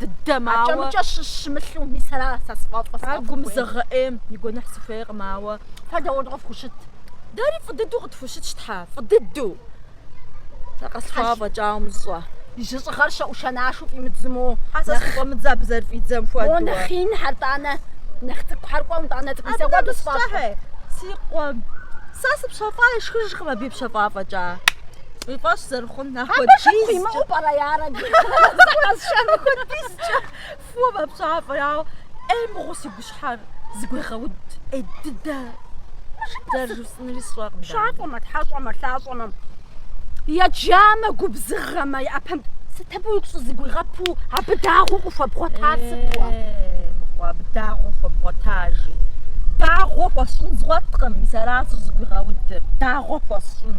дыдэм, ауэ... Акӏэмыкӏэ щыщымылъу, мис ара сэ сфӏэфӏыр? Ар гумызагъэ ӏейм и гуэныхь сыхуейкъым, ауэ... Фэ дауэ къыфхущыт? Дэри фӏы дыдэу къытхущытщ, тхьэ, фӏы дыдэу! Сэ къэслъхуауэ фӏэкӏа умыщӏэ. И жьыщӏыгъэр щэ, ӏушэнашэу фӏимыдзму. Хьэ, сэ схуфӏэмыдзэ абы зэрыфӏидзэм хуэдэ? О, нэхъ инхэр, тӏанэ, нэхъ цӏыкӏухэр, кӏуэ, итӏанэ, цӏыкӏу нысэ хуэдэу сфӏэфӏыр. Си къуэм сэ спщэфӏа ишхыжкъым абы ипщэфӏа фӏэкӏа. Уи фӏэщ зэрыхъу. Абы хэт хуимыӏэу пӏэрэ ар абы? Къэзыщӏэну хуэдизкӏэ фӏыуэ мэпщафӏэ, ауэ ӏей мыгъуэу си гущхьэр зэгуегъэуд, ӏей дыдэ зэрыжысӏэнури сщӏэркъым. Пщафӏэмэ, тхьэщӏэмэ, лъащӏэмэ, еджамэ, губзыгъэмэ, и ӏэпэм сыт абы уигу щӏызэгуигъэпу, абы дагъуэу къыхуэбгъуэтар сыт уэ? Мыгъуэ, абы дагъуэу хуэбгъуэтар, жи, дагъуэ хуэсщӏын згъуэткъым, мис аращ зэгуигъэудыр, дагъуэ хуэсщӏын.